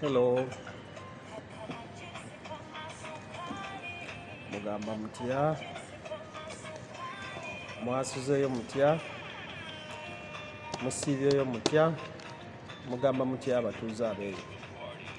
Hello. Mugamba mutya? Mwasuzeeyo mutya? Musiibyeyo mutya? Mugamba mutya abatuuze abeeyo?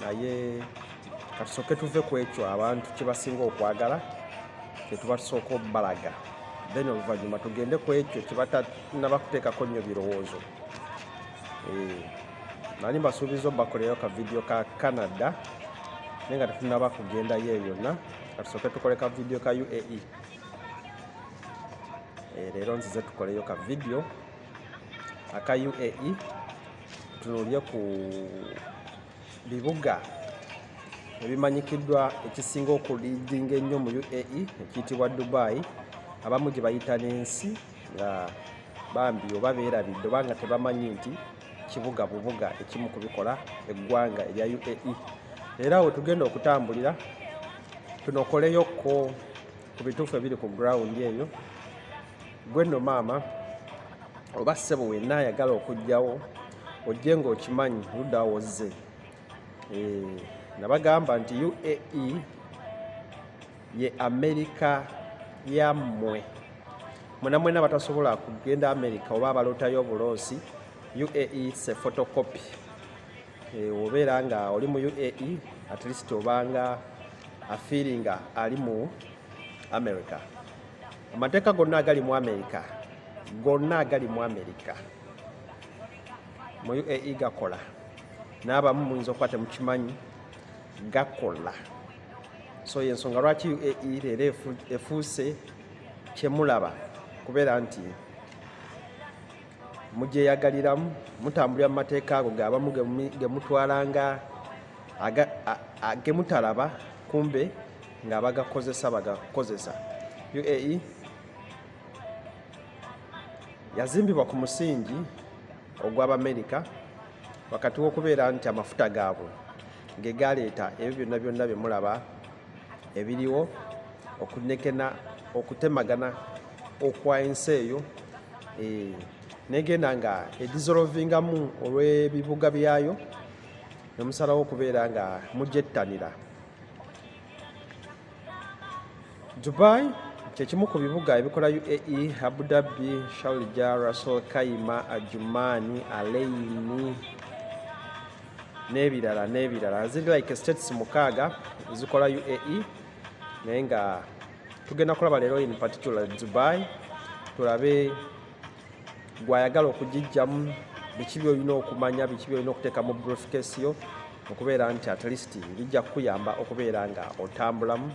naye katusoke tuve ku ekyo abantu kyebasinga okwagala kyetubatusooka obalaga then oluvanyuma tugende ku ekyo kyebatanaba kuteekako nnyo birowoozo eh, nani mbasuubiza obakoleyo ka vidiyo ka canada naye nga tetunaba kugendayo eyo yonna katusoke tukole ka vidiyo ka uae eh, leero nzize tukoleyo ka vidiyo aka uae tutunuulire ku bibuga ebimanyikiddwa ekisinga okuliidinga ennyo mu uae ekiyitibwa dubai abamu gye bayita n'ensi nga bambi oba beerabidde oba nga tebamanyi nti kibuga bubuga ekimu kubikola eggwanga erya uae era wetugenda okutambulira tunokoleyokko ku bituufu ebiri ku ground eyo gwe nno maama oba ssebo wenna ayagala okujjawo ojje ng'okimanyi ludda wozze eh, nabagamba nti uae ye amerika yammwe mwenamwena batasobola kugenda amerika oba abalotayo obuloosi uae se photocopy Eh, obeera nga oli mu uae at least obanga afiiringa ali mu america amateeka gonna agali mu america gonna agali mu america mu uae gakola n'abamu muyinza okuba temukimanyi gakola so yensonga lwaki uae leero efuuse kyemulaba kubeera nti mugyeyagaliramu mutambulira mu mateeka ago geabamu gemutwalanga gemutalaba kumbe nga bagakozesa bagakozesa uae yazimbibwa ku musingi ogw'abamerika wakati w'okubeera nti amafuta gaabwe ge galeeta ebyo byonna byonna bye mulaba ebiriwo okunekena okutemagana okwa ensi eyo eh, negenda nga edizolovingamu olw'ebibuga byayo nemusalawo okubeera nga mujettanira dubai kyekimu ku bibuga ebikola uae abu dhabi sharja russel kaima ajumani aleini n'ebirala n'ebirala ziri like states mukaaga zikola uae naye nga tugenda kulaba leero in particular dubai tulabe gwayagala okugijjamu biki byolina okumanya biki byolina okuteeka mu briefcase yo okubeera nti at least bijja kukuyamba okubeera nga otambulamu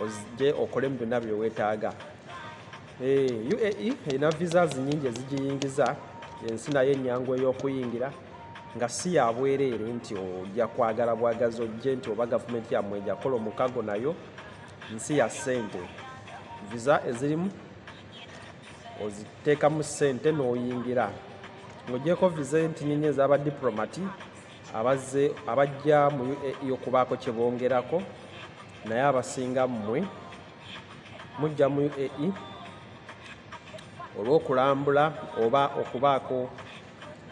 ozije okolemu byonna byewetaaga eh, uae erina visas nyingi ezigiyingiza ensi nayo enyangu ey'okuyingira nga si ya bwereere nti ojja kwagala bwagazi ojje nti oba gavumenti yammwe ejakola omukago nayo nsi ya ssente visa ezirimu oziteekamu ssente n'oyingira ng'ogyeko viza entinini ez'aba diplomati abazze abajja mu uae okubaako kye bongerako naye abasinga mmwe mujja mu uae olw'okulambula oba okubaako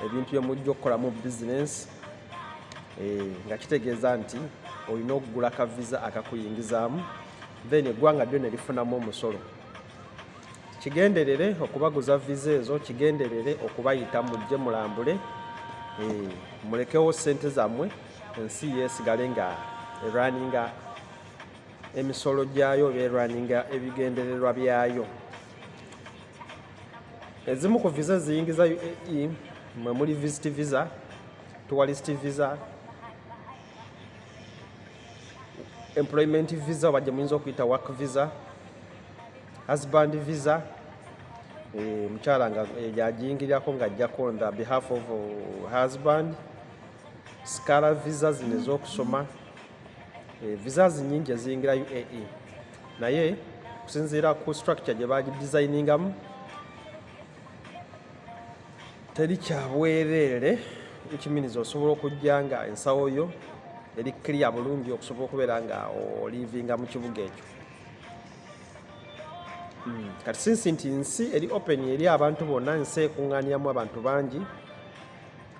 ebintu bye mujja okukolamu bizinensi eh, nga kitegeeza nti olina okugula ka viza akakuyingizaamu then eggwanga lyona lifunamu omusolo kigenderere okubaguza viza ezo kigenderere okubayita mujje mulambule eh, mulekewo sente zammwe ensi yesigale nga erwaninga emisolo gyayo oba erwaninga ebigendererwa byayo ezimu ku viza eziyingiza uae mwe muli visit visa tourist visa employment visa oba gye muyinza okuyita work visa husband visa eh, mukyala nga eh, yagiyingirirako nga ajjako on the behalf of uh, husband scara visa zino ez'okusoma eh, visa zinyingi eziyingira uae naye okusinziira ku structure gye bagidesigningamu teri kyabwereere ekiminiza osobola okujja nga ensawo yo eri clear bulungi okusobola okubeera nga olivinga mu kibuga ekyo hmm, kati sinsi nti nsi eri open eri abantu bonna ensi ekuŋŋaaniramu abantu bangi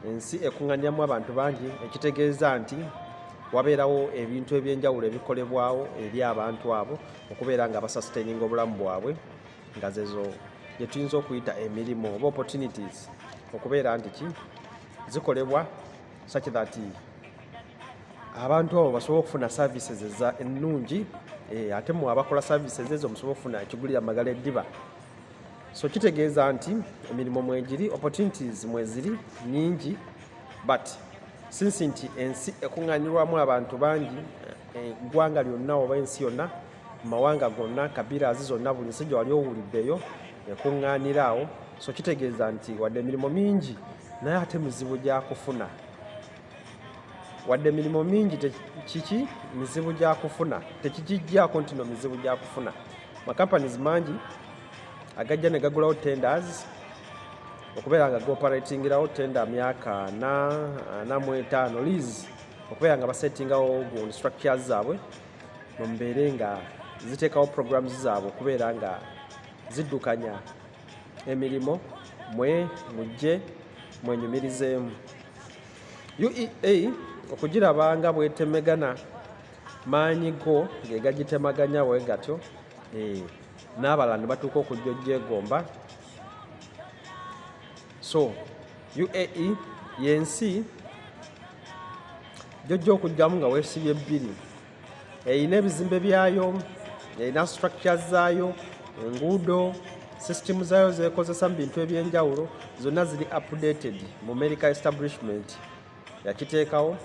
ensi ekuŋŋaaniramu abantu bangi ekitegeeza nti wabeerawo ebintu ebyenjawulo ebikolebwawo eri abantu abo okubeera nga basasitaininga obulamu bwabwe nga zezo gye tuyinza okuyita emirimu oba opportunities okubeera nti ki zikolebwa such that abantu abo basobole okufuna services eza ennungi eh, ate mu abakola services ezo musobole okufuna ekigulira magala eddiba so kitegeeza nti emirimu mwegiri opportunities mweziri nyingi but sinsi nti ensi ekuŋŋanyirwamu abantu bangi eh, eggwanga lyonna oba ensi yonna mu mawanga gonna kabirazi zonna buli nsi gyewali owuliddeyo ekuŋŋaanira awo so kitegeeza nti wadde emirimu mingi naye ate mizibu gyakufuna wadde emirimu mingi kiki mizibu gyakufuna tekikijjako ntino mizibu gyakufuna macompanies mangi agajja ne gagulawo tenders okubeera nga gooperatingirawo tenda myaka ana ana mu etaano lease okubeera nga basetingawo gu structures zaabwe mu mbeere nga ziteekawo programu zaabwe okubeera nga ziddukanya emirimu mwe mujje mwenyumirizeemu uea okugiraba nga bwetemegana maanyi go ge gagitemaganya we gatyo eh, n'abalala ne batuuka okujja ojjegomba so uae yensi gyojja okujjamu nga wesibye ebbiri erina ebizimbe byayo erina structure zaayo enguudo system zaayo zekozesa mu bintu ebyenjawulo zonna ziri updated mu america establishment yakiteekawo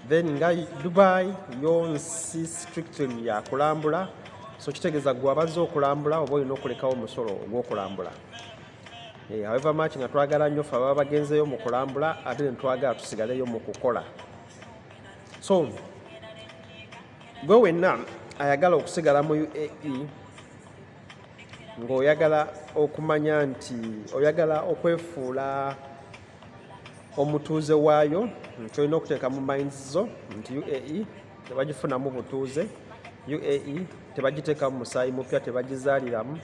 then nga dubai yo nsi strictly yakulambula so kitegeeza gwe abazze okulambula oba olina okulekawo omusolo ogwokulambula Eh, however much nga twagala nnyo fe ababa bagenzeeyo mu kulambula ate netwagala tusigaleyo mu kukola so gwe wenna ayagala okusigala mu uae ng'oyagala okumanya nti oyagala okwefuula omutuuze waayo nti olina okuteeka mu minds zo nti uae tebagifunamu butuuze uae tebagiteekamu musaayi mupya tebagizaaliramu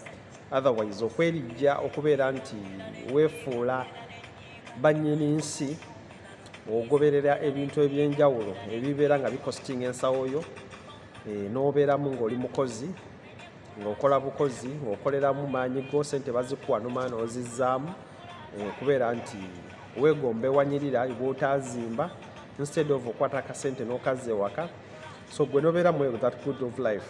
otherwise okwerijja okubeera nti weefuula bannyini nsi ogoberera ebintu ebyenjawulo ebibeera nga bikositinga ensawo yo eh, n'obeeramu ng'oli mukozi ng'okola bukozi ng'okoleramu maanyi go sente bazikuwa nomaa n'ozizzaamu eh, okubeera nti weegomba ewanyirira bwotaazimba instead of okwata akasente n'okazza ewaka so gwe nobeera mu that good of life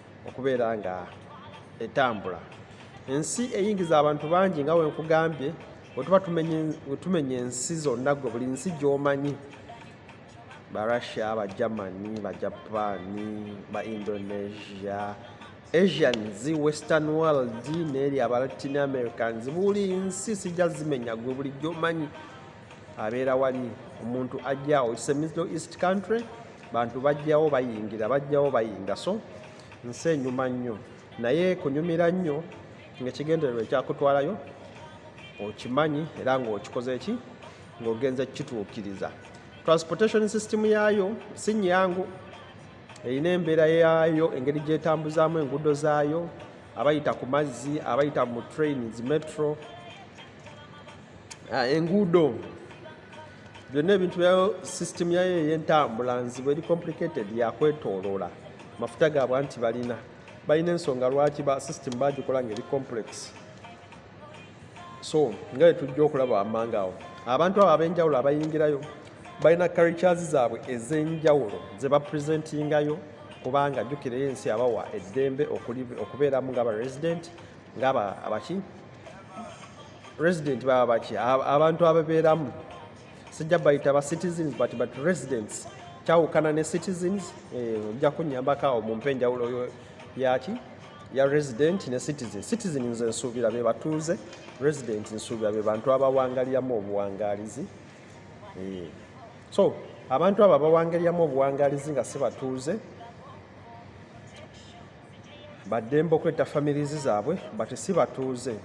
okubeera nga etambula ensi eyingiza abantu bangi nga wenkugambye wetuba tumenya ensi zonna gwe buli nsi gyomanyi ba russia ba germany ba japan ba indonesia asians western world neeri aba latin americans buli nsi sijja zimenya gwe buli gyomanyi abeera wali omuntu ajjawo its a middle east country bantu bajjawo bayingira bajjawo bayinga so nsi enyuma nnyo naye kunyumira nnyo ngaekigendererwa ekyakutwalayo okimanyi era ngaokikoze ki ngaogenze kukituukiriza transportation system yaayo si nyangu erina embeera yaayo engeri gyetambuzaamu enguudo zaayo abayita ku mazzi abayita mu train zi metro ah, enguudo byonna ebintu byayo sisitemu yayo ey'entambula nzibu eri complicated yakwetooloola mafuta gaabwe nti balina balina ensonga lwaki ba sisitemu bagikola nga eri complex so nga yetujja okulaba wammanga awo abantu abo ab'enjawulo abayingirayo balina carictures zaabwe ez'enjawulo ze bapresentingayo kubanga jjukirayo ensi abawa eddembe okubeeramu nga ba resident ngaba abaki resident baba baki abantu ababeeramu sijja bayita ba citizens but but residents kyawukana ne citizens eh, ojja kunyambako awo mumpe enjawulo yaki ya resident ne citizen citizen nze nsuubira be batuuze resident nsuubira be bantu abawangaliramu obuwangalizi eh. so abantu abo abawangaliramu obuwangalizi nga si batuuze baddembe okwetta families zaabwe but si batuuze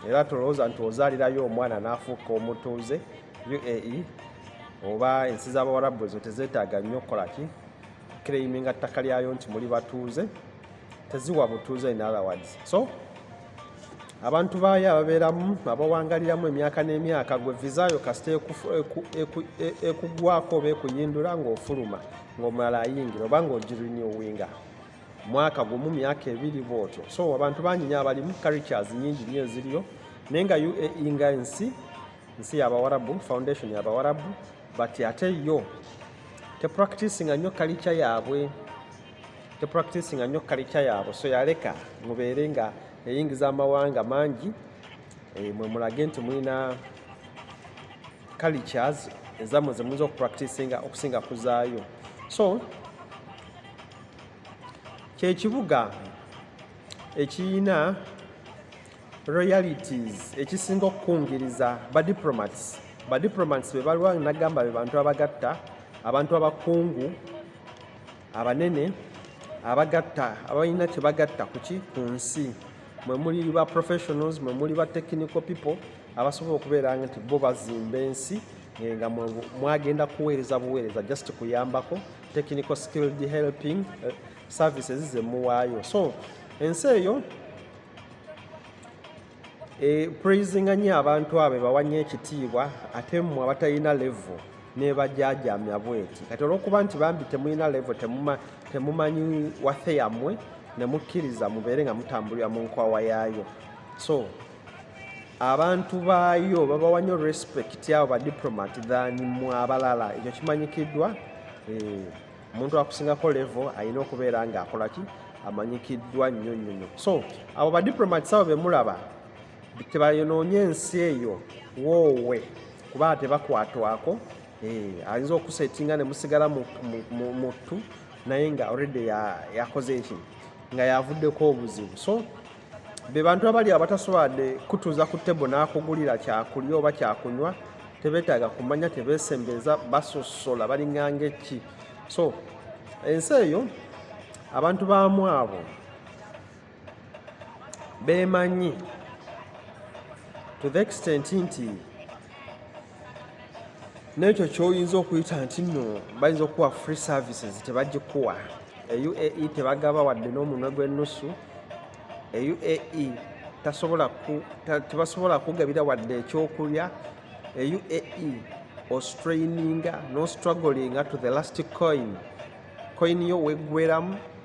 era tolowooza nti ozaalirayo omwana n'afuuka omutuuze uae oba ensi z'abawarabu ezo tezeetaaga nnyo okukola ki claiminga ttaka lyayo nti muli batuuze teziwa butuuze in other words so abantu baayo ababeeramu abawangaliramu emyaka n'emyaka gwe vizayo kasita ekugwako oba ekuyindula ng'ofuluma ng'omulala ayingira oba ng'ogirinyowinga mwaka gumu myaka ebiri bwotyo so abantu bangi nyo abalimu caricas nyingi nyo eziriyo naye nga uae nga ensi nsi yabawarabu foundation yabawarabu but ate yo tepracticinga nyo kalica yaabwe tepracticinga nyo kalica yaabwe so yaleka mubeere nga eyingiza amawanga mangi eh, mwe mulage nti mulina cultures ezamwe zemuyinza okupracticinga okusinga kuzaayo so kyekibuga ekiyina realities ekisinga okukungiriza badiplomats badiplomats bebalwa nagamba bebantu abagatta abantu abakungu abanene abagatta abalina kyebagatta kuki ku nsi mwe muli ba professionals mwe muli ba technical people abasobola okubeera nti bo bazimba ensi eh, nga mwagenda kuweereza buweereza just kuyambako technical skilled helping eh, services ze muwaayo so ensi eyo e, praisinga nnyo abantu abo bawa nnyo ekitiibwa ate mmwe abatalina levo nebajajamya bweti kati olwokuba nti bambi temulina levo temumanyi wathe yammwe nemukkiriza mubeere nga mutambulira mu nkwawa yaayo so abantu baayo babawa nnyo respect abo ba diplomat than mu abalala ekyo kimanyikiddwa eh, omuntu akusingako levo alina okubeera ngaakolaki amanyikiddwa nnyo nnyo nnyo so abo ba diplomat abo bemulaba tebayonoonye ensi eyo woowe kuba tebakwatwako eh, ayinza okusetinga ne musigala muttu naye nga already yakoze eki nga yavuddeko obuzibu so be bantu abali abataswade kutuuza ku tebo n'akugulira kyakulya oba kyakunywa tebetaaga kumanya tebesembeeza basosola balinganga eki so ensi eyo abantu baamu abo beemanyi to the extent nti nekyo kyoyinza okuyita nti no bayinza okuwa free services tebagikuwa euae tebagaba wadde n'omunwe gw'ennusu euae tebasobola kugabira wadde ekyokulya euae ostraininga nostruglinga to the last coin coin yo weggweramu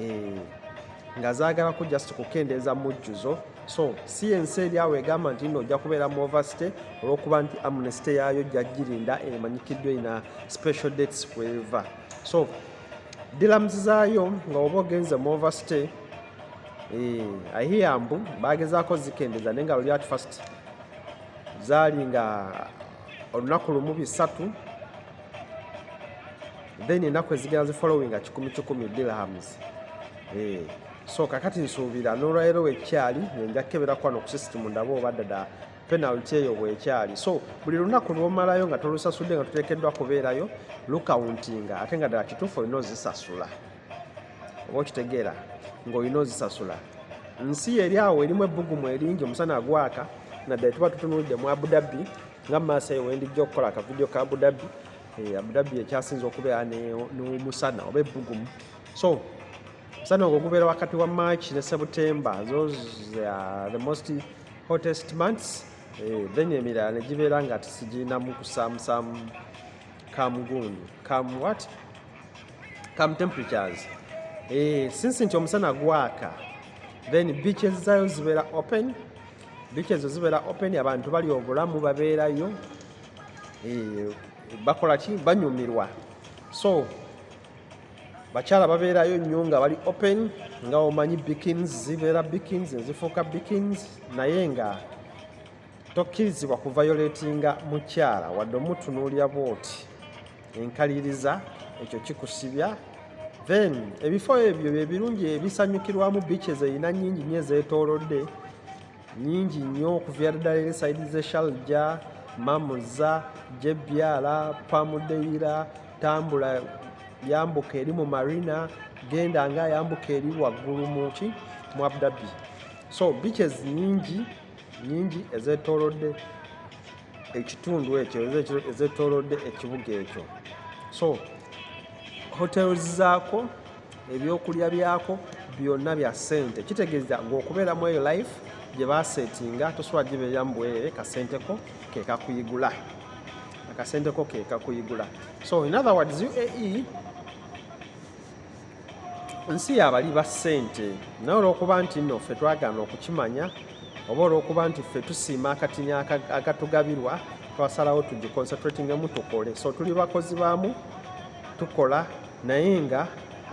eh, nga zaagalako just kukendeeza mujjuzo so si ensi eri awo egamba nti no ojja kubeera mu oversty olwokuba nti amnesty yaayo jajjirinda emanyikiddwa ina special dates kweva so dilamuzi zaayo nga oba ogenze mu oversty eh, ahiya mbu bagezaako zikendeza naye nga luli at first zaali nga olunaku lumu bisatu then enaku ezigenda zi following kikumi kikumi dirhams eh so kakati nsuubira nolwaero wekyali nja kukebera kwano ku system ndaba oba dada penalty eyo bwekyali so buli lunaku lwomalayo nga tolusasudde nga tutekeddwa kubeerayo lukauntinga ate nga ddala kituufu olina ozisasula oba okitegeera ngaolina ozisasula nsi eri awo erimu ebbugumu eringi omusana agwaka naddala tuba tutunulidde mu abudabi nga maaso eyo wendijja okukola akavidiyo ka abudabi eh, abudabbi ekyasinza okubeera nomusana oba ebbugumu so musana ogwo gubeera wakati wa march ne septemba those are the most hottest months eh, then emirala negibeera nga tisigirinamu kusamusamu kamugundu kam what kam temperatures eh, since nti omusana gwaka then beaches zayo zibeera open beach ezo zibeera open abantu bali obulamu babeerayo eh, bakola ki banyumirwa so bakyala babeerayo nnyo nga bali open nga omanyi bikins zibeera bikins ezifuuka bikins naye nga tokkirizibwa kuvayoletinga mukyala wadde omutunuulira bwoti enkaliriza ekyo kikusibya then ebifo ebyo byebirungi ebisanyukirwamu biiki ezeyina nyingi nyo ezetolodde nyingi nnyo okuviira ddala eri saidi ze shalja mamuza jebyala pamudeyira tambula yambuka eri mu marina genda nga yambuka eri waggulu muki mu abdabi so beaches nyingi nyingi ezetolodde ekitundu ekyo ezetolodde ekibuga ekyo so hotels zaako ebyokulya byako byonna bya ssente kitegeeza ng'okubeera mu eyo life gye baseetinga tosobola gibeera mu bwerere kasenteko ke kakuyigula akasenteko ke kakuyigula so in other words uae nsi yabali ba ssente naye olwokuba nti nno ffe twagaana okukimanya oba olwokuba nti ffe tusiima akatinya agatugabirwa twasalawo tugiconcentratingemu tukole so tuli bakozi baamu tukola naye nga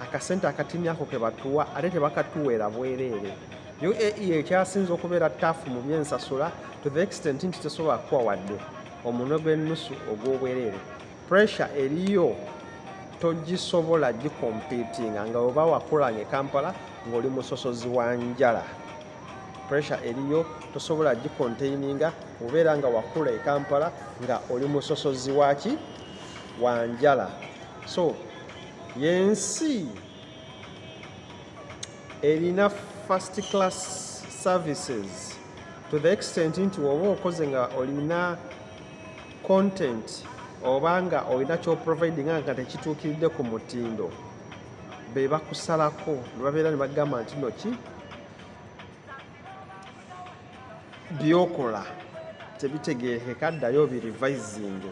akasente akatini ako kebatuwa ate tebakatuweera bwereere uae ekyasinze okubeera taafu mu byensasula to the extent nti tesobola kukuwa wadde omunwe gw'ennusu ogw'obwereere pressure eriyo togisobola gikompitinga nga oba wakulanga ekampala ng'oli musosozi wa njala pressure eriyo tosobola gikontaininga obeera nga wakula ekampala nga oli musosozi waki wanjala so yensi erina first class services to the extent nti woba okoze nga olina content oba nga olina kyoprovidinga nga tekituukiridde ku mutindo be bakusalako nebabeera ne bagamba nti noki byokola tebitegeekeka ddayo birivisinge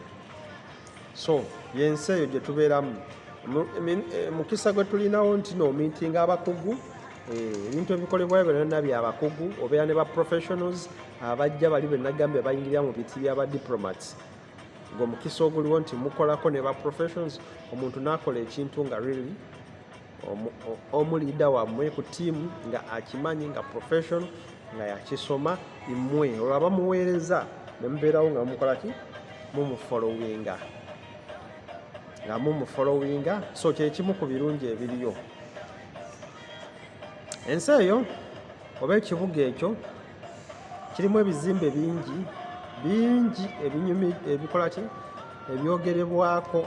so yensi eyo gye tubeeramu eh, mukisa gwe tulinawo nti noomintinga abakugu eh, ebintu ebikolebwayo byonna byabakugu obeera ne ba professionals abajja bali benagambye bayingirira mu biti bya ba diplomats ng'omukisa oguliwo nti mukolako ne ba professions omuntu n'akola ekintu nga really omu liida wammwe ku tiimu nga akimanyi nga professional nga yakisoma imwe olwo abamuweereza nemubeerawo nga mukola ki mumufolowinga nga mumufolowinga so kyekimu ku birungi ebiriyo ensi eyo oba ekibuga ekyo kirimu ebizimbe bingi bingi ebinyumi ebikola ki ebyogerebwako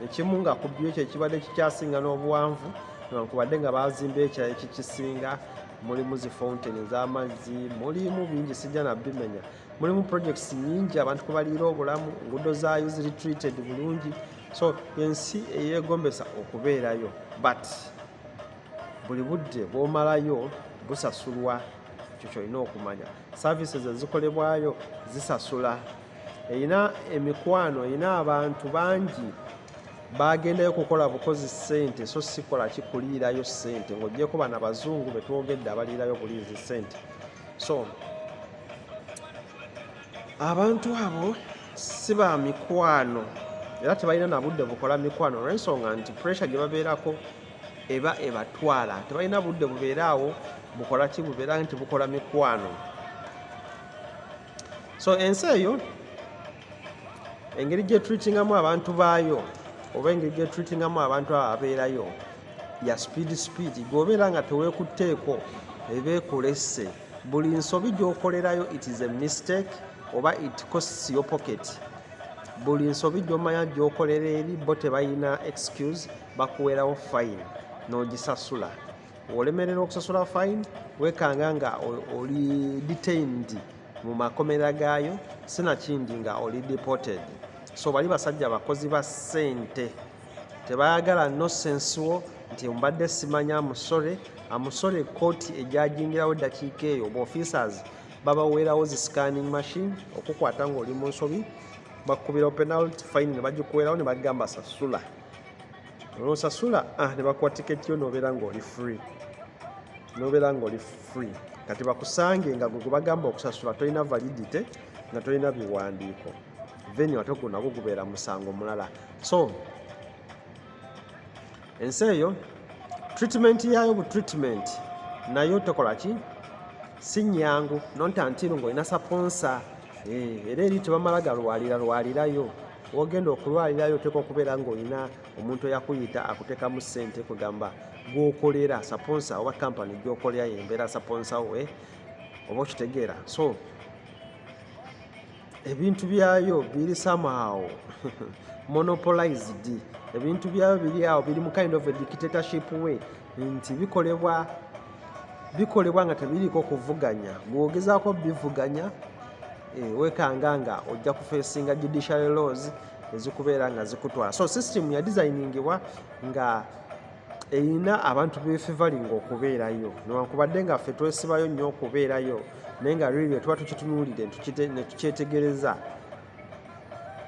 ekimu nga ku byo ekyo ekibadde kikyasinga n'obuwanvu newankubadde nga baazimba ekirala ekikisinga mulimu zi fountain ez'amazzi mulimu bingi sijja nabimenya mulimu projects nyingi abantu kubaliira obulamu enguudo zaayo ziri treated bulungi so ensi eyegombesa okubeerayo but buli budde bwomalayo busasulwa ekyo kyolina okumanya services ezikolebwayo zisasula erina emikwano erina abantu bangi bagendayo kukola bukozi sente so sikola kikuliirayo sente ngaogyeko bana bazungu betwogedde abaliirayo buliizi sente so abantu abo si ba mikwano era tebalina na budde bukola mikwano olwensonga nti puresure gye babeerako eba ebatwala tebalina budde bubeera awo bukola ki bubeera nti bukola mikwano so ensi eyo engeri gyetreatingamu abantu baayo oba engeri gyetreatingamu abantu abo abeerayo ya sipiidi sipiidi gweobeera nga teweekutteeko ebeekulesse buli nsobi gyokolerayo it is a mistake oba it costs your pocket buli nsobi gyomanya gyokolera eri bo tebalina excuse bakuwerawo fine n'ogisasula olemerera okusasula fine wekanga nga oli detained mu makomera gaayo sinakindi nga oli deported so bali basajja bakozi ba sente tebayagala no sense wo nti mbadde simanya amusore amusore kooti egyajingirawo eddakiika eyo oba officers babaweerawo zi scanning machine okukwata ng'oli mu nsobi bakukubirawo penalty fine ne bagikuweerawo ne bagamba sasula olwosasula ah, ne bakuwa tiketi yo nobeera ngaoli free nobeera ngaoli free kati bakusange nga gwe gwebagamba okusasula tolina validity nga tolina biwandiiko venue ate ogwo nagwo gubeera musango mulala so ensi eyo treatment yayo bu treatment nayo tokola ki si nyangu nontantiru ngaolina saponsa Eh, era eri tebamala galwalira lwalirayo wogenda okulwalirayo oteeka okubeera ngaolina omuntu eyakuyita akutekamu sente kugamba gwokolera saponsa oba kampani gyokolera yembeera saponsa we oba okitegeera so ebintu byayo biri somehow monopolized ebintu byayo biri awo biri mu kind of a dictatorship way nti bikolebwa bikolebwa nga tebiriiko kuvuganya bwogezaako bivuganya eh, wekanga nga ojja kufesinga judiciary laws ezikubeera nga zikutwala so system yadesigningibwa nga erina abantu befevalinga okubeerayo newankubadde nga ffe twesibayo nnyo okubeerayo naye nga liryo tuba tukitunuulidde netukyetegereza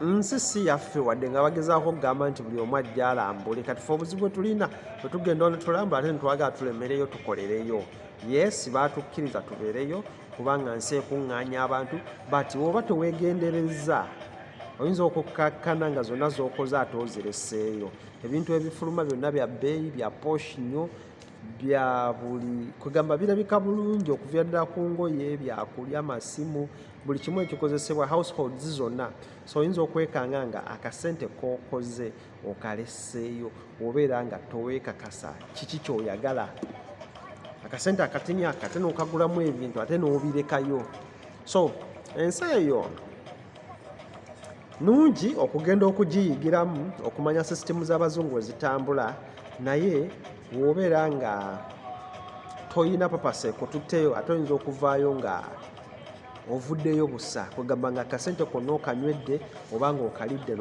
nsi si yaffe wadde nga bagezaako okugamba nti buli omu ajja alambule kati fe obuzibu bwetulina bwetugenda ono tulambula ate netwagala tulemereyo tukolereyo yesi batukkiriza tubeereyo kubanga nsi ekuŋŋaanya abantu but woba tewegendereza oyinza okukkakkana nga zonna zokoze ate ozireseeyo ebintu ebifuluma byonna bya bbeeyi bya posh nnyo bya buli kwegamba birabika bulungi okuviradira ku ngoye byakulya masimu buli kimu ekikozesebwa households zonna so oyinza okwekanga nga akasente kokoze okaleseeyo obeera nga towekakasa kiki kyoyagala akasente akatini ako ate nokagulamu ebintu ate nobirekayo so ensi eyo nungi okugenda okugiyigiramu okumanya sisitemu z'abazungu wezitambula naye wobeera nga toyina papasa ekututteyo ate oyinza okuvaayo nga ovuddeyo busa kwegamba nga kasente konna okanywedde oba nga okalidde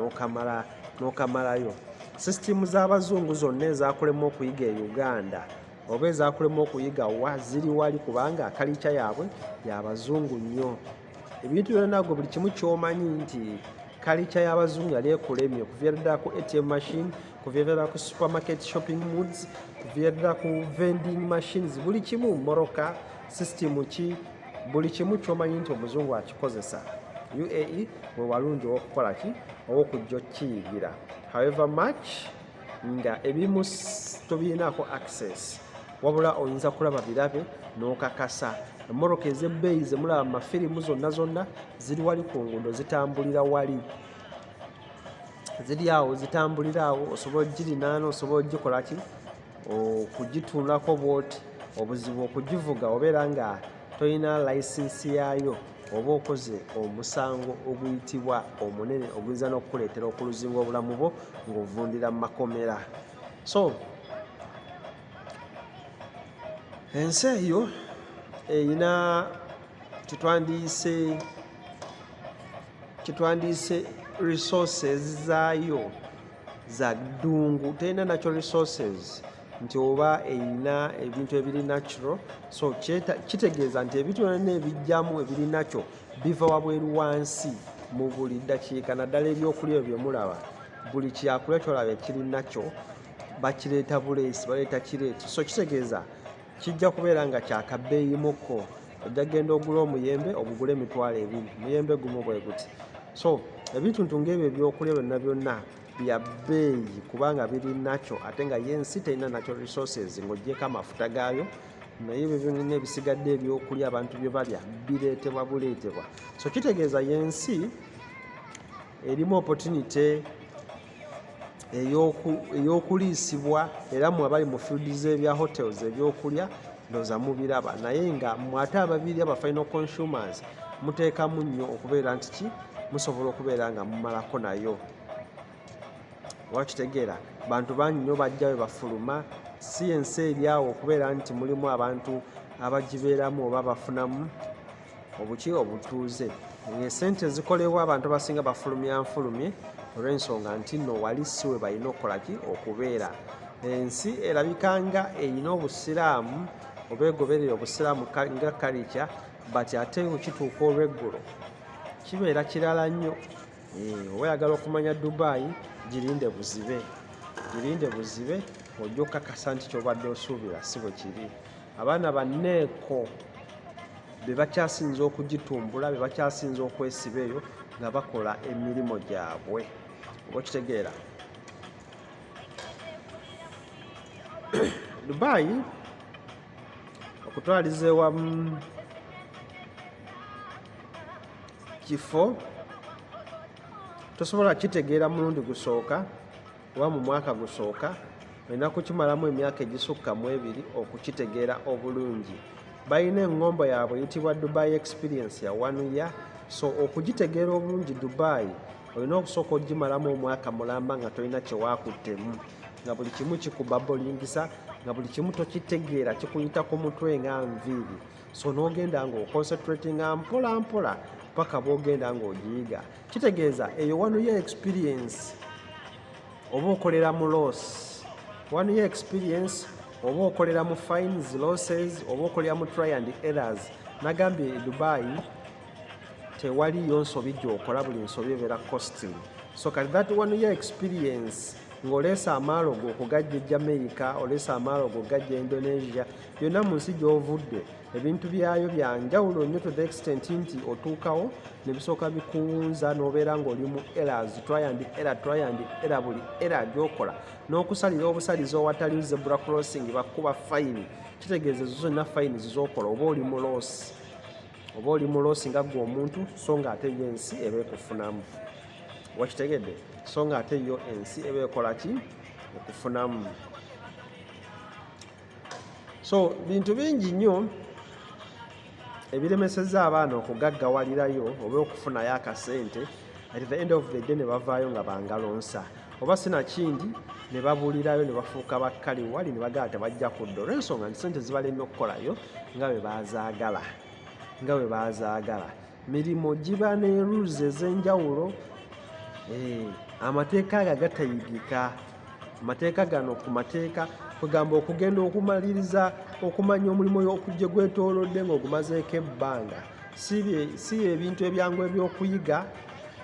n'okamalayo sisitimu z'abazungu zonna ezakulema okuyiga e uganda oba ezakulema okuyiga wa ziri wali kubanga kalica yaabwe yabazungu nnyo ebintu byonanagwe buli kimu kyomanyi nti kalica y'abazungu yali ekulemye okuviirira ku atm machine kuviirira ku supermarket shopping moods kuviirira ku vending machines buli kimu moroka sisitimu ki buli kimu kyomanyi nti omuzungu akikozesa uae wewalungi owokukola ki owokujja okiyigira however much nga ebimu tobirinaako access wabula oyinza kulaba birabe nokakasa emmotoka ezebbeeyi zemulaba mu mafirimu zonna zonna ziri wali ku nguudo zitambulira wali ziri awo zitambulira awo osobola ogirinaana osobola ogikolaki okugituulako bwoti obuzibu okugivuga obeera nga tolina layisinsi yaayo oba okoze omusango oguyitibwa omunene oguyinza n'okukuleetera okuluzinga obulamu bwo ng'ovundira mu makomera so ensi eyo erina kyetwandiyise kyetwandiyise resources zaayo za ddungu terina natural resources nti oba erina ebintu ebiri natural so kitegeeza nti ebintu byonna ebijjamu ebiri nakyo biva wabweru wansi mu buli ddakiika naddala ebyokulya ebyo byemulaba buli kyakulya kyolaba ekiri nakyo bakireeta buleesi baleeta kireeti so kitegeeza kijja kubeera nga kyakabbeeyimuko ojja kugenda ogula omuyembe ogugula emitwalo ebiri muyembe gumu bwe guti so ebintu ntu ngaebyo ebyokulya byonna byonna bya bbeeyi kubanga biri nakyo ate nga ye ensi terina nakyo resources ng'ogyeko amafuta gaayo naye ebyo byonna ebisigadde ebyokulya abantu bye balya bireetebwa buleetebwa so kitegeeza yensi erimu opportunity eyokuliisibwa era mwe abali mu field z'ebya hotels ebyokulya ndoza mubiraba naye nga mwate ababiri aba final consumers muteekamu nnyo okubeera nti ki musobola okubeera nga mumalako nayo wakitegeera bantu bangi nnyo bajja we bafuluma si ensi eryawo okubeera nti mulimu abantu abagibeeramu oba bafunamu obuki obutuuze esente zikolebwa abantu abasinga bafulumya nfulumye olw'ensonga nti no wali si we balina okukolaki okubeera ensi erabika nga erina obusiraamu oba egoberera obusiraamu nga kalica but ate okituuka olweggulo kibeera kirala nnyo eh, oba yagala okumanya dubayi girinde buzibe girinde buzibe ojja okukakasa nti kyobadde osuubira si bwe kiri abaana banneeko be bakyasinza okugitumbula be bakyasinza okwesiba eyo nga bakola emirimu gyabwe oba okitegeera dubayi okutwaliza ewamu kifo tosobola kitegeera mulundi gusooka kuba mu mwaka gusooka olina kukimalamu emyaka egisukka mu ebiri okukitegeera obulungi balina eŋŋombo yaabwe eyitibwa dubai experience ya one year so okugitegeera obulungi dubai olina okusooka okugimalamu omwaka mulamba nga tolina kyewakuttemu nga buli kimu kikubabolingisa nga buli kimu tokitegeera kikuyita ku mutwe nga nviiri so n'ogenda nga oconcentratinga mpola mpola paka bwogenda ng'ogiyiga kitegeeza eyo one year experience oba okolera mu loss one year experience oba okolera mu fines losses oba okolera mu try and errors nagambye e dubai tewaliyo nsobi gyokola buli nsobi ebeera costing so kati that one year experience ng'oleese amaalo go okugajja e jamaica oleese amaalo go okugajja e indonesia yonna mu nsi gy'ovudde ebintu byayo bya njawulo nnyo to the extent nti otuukawo ne bisooka bikuwunza n'obeera ng'oli mu eras tryandi era tryandi era buli era gyokola n'okusalira obusalizi owatali zebra crossing bakuba fayini kitegeeza ezo zonna fayini zizokola oba oli muloosi oba oli muloosi nga gwe omuntu so nga ate yo ensi eba ekufunamu wakitegedde so nga ate yo ensi eba ekola ki ekufunamu so bintu bingi nnyo ebiremeseza abaana okugaggawalirayo oba okufunayo akasente at the end of the day ne bavaayo nga bangalonsa oba sinakindi ne babulirayo ne bafuuka bakkali wali ne bagala tebajja kudda olwensonga nti sente zibalemye okukolayo nga bwe bazaagala nga bwe bazaagala mirimu giba ne rules ez'enjawulo eh, amateeka ago agatayigika mateeka gano ku mateeka kwegamba okugenda okumaliriza okumanya omulimu okujje gwetolodde ngaogumazeeko ebbanga si ebintu ebyangu ebyokuyiga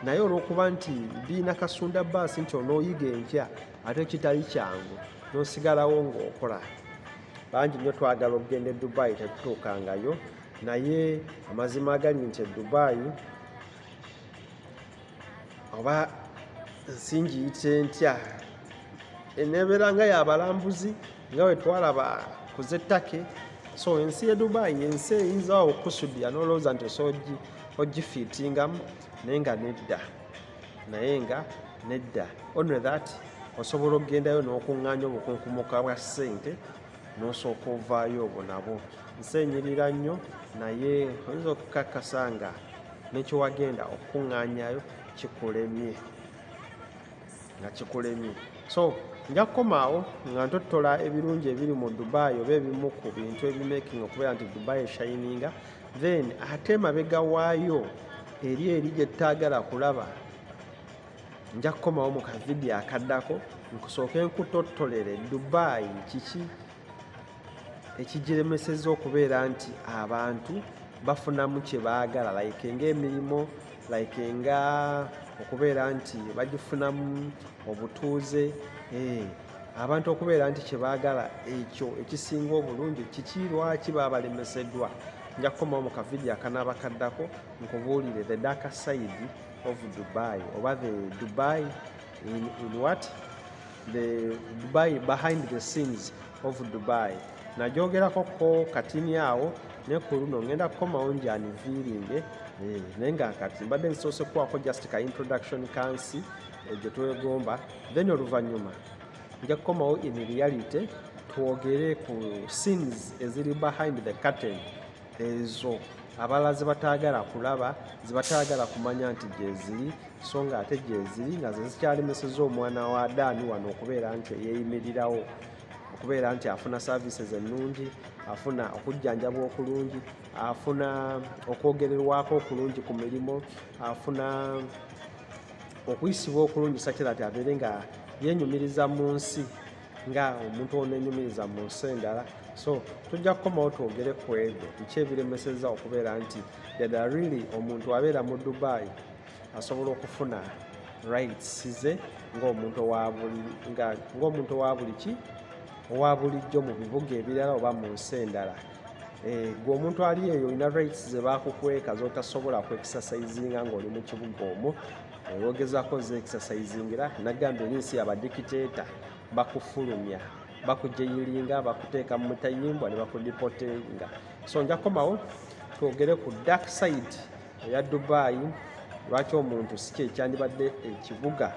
naye olwokuba nti biina kasunda baasi nti onooyiga enkya ate kitali kyangu nosigalawo ngaokola bangi nyo twagala okugenda e dubai tetutuukangayo naye amazima agali nti e dubai oba nsingiyite ntya enebeera nga yabalambuzi nga wetwalaba kuzettake so ensi ye dubai ensi eyinza awo okusudia nolowooza nti osa ogifiitingamu naye nga nedda naye nga nedda only that osobola okugendayo n'okuŋŋaanya obukunkumuka bwa ssente n'osooka ovaayo obwo nabwo nseenyirira nnyo naye oyinza okukakasa nga nekyewagenda okukuŋŋaanyayo kikulemye nga kikulemye so nja kukomaawo nga ntottola ebirungi ebiri mu dubai oba ebimu ku bintu ebimaking okubeera nti dubai eshayininga then ate mabega waayo eri eri gyetutaagala kulaba nja kukomawo mu kavidiyo akaddako nkusooke nkutottolere dubaayi kiki ekigiremeseza okubeera nti abantu bafunamu kye baagala like ngaemirimu like nga okubeera nti bagifunamu obutuuze eh, abantu okubeera nti kye baagala ekyo ekisinga obulungi kiki lwaki babalemeseddwa nja kukomawo mu kavidiyo akanaaba kaddako nkubuulire the daka saidi of Dubai over the Dubai in, in what the Dubai behind the scenes of Dubai nagyogerako ko katini awo ne ku luno ngenda kukomawo njaniviiringe eh, naye nga kati mbadde nsoose kukwako just ka introduction kansi eh, gye twegomba then oluvannyuma nja kukomawo in reality twogere ku scenes eziri behind the curtain ezo abalala zebataagala kulaba zebataagala kumanya nti gyeziri so nga ate gyeziri nga ze zikyalemeseza omwana wa adaani wano okubeera nti eyeyimirirawo okubeera nti afuna services ennungi afuna okujjanjabwa okulungi afuna okwogererwako okulungi ku mirimu afuna okuyisibwa okulungi sakira ti abeere nga yenyumiriza mu nsi nga omuntu onenyumiriza mu nsi endala so tujja kukomawo twogere ku ebyo biki ebiremeseza okubeera nti dada really omuntu abeera mu dubai asobola okufuna rights ze ngaomuntu owa buli ki owa bulijjo mu bibuga ebirala oba mu nsi endala Eh, gwe omuntu ali eyo olina rights zebakukweka zotasobola kwekisasaizinga ngaoli mukibuga omwo wogezako ze exercising era nagambye oli nsi abadikiteeta bakufulumya bakujeyilinga bakuteeka mu mutayimbwa ne bakudipotinga so nja kukomawo twogere ku dark side eya dubai lwaki omuntu si kyekyandibadde ekibuga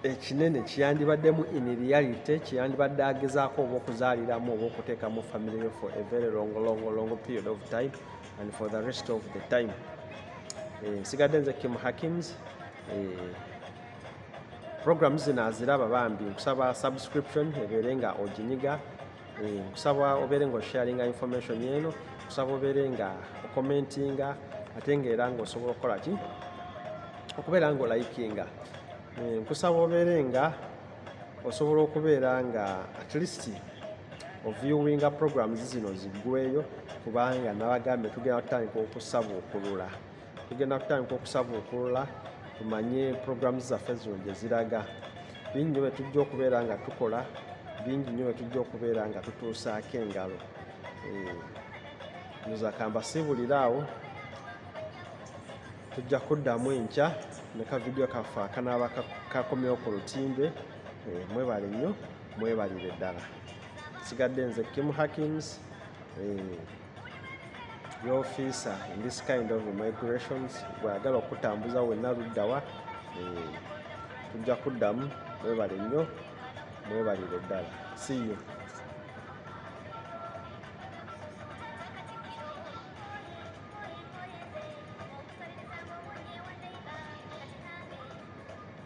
ekinene kiyandibaddemu in reality kiyandibadde agezaako oba okuzaaliramu oba okuteekamu family yo for a very long long long period of time and for the rest of the time eh, nsigadde nze kim hakims eh, program zino aziraba bambi nkusaba subscription ebeere nga oginyiga Eh, nkusaba obeere nga osharinga information eno nkusaba obeere nga okomentinga ate nga era nga osobola okukola ki okubeera nga olayikinga eh, nkusaba obeere nga osobola okubeera nga at least oviewinga programs zino ziggweyo kubanga nabagambye tugenda tutandika okusabuukulula tugenda kutandika okusabuukulula tumanye programu zaffe zino gye ziraga bingi nyo byetujja okubeera nga tukola bingi nyo byetujja okubeera nga tutuusaako engalo eh, nzakamba siibulire awo tujja kuddamu enkya ne ka vidiyo kaffe akanaaba kakomyewo ku lutimbe eh, mwebale nnyo mwebalire ddala sigadde nze kim hackings eh, yofiisa in this kind of migrations gweyagala okutambuza wenna luddawa eh, tujja kuddamu mwebale nnyo mwebalire ddala siyo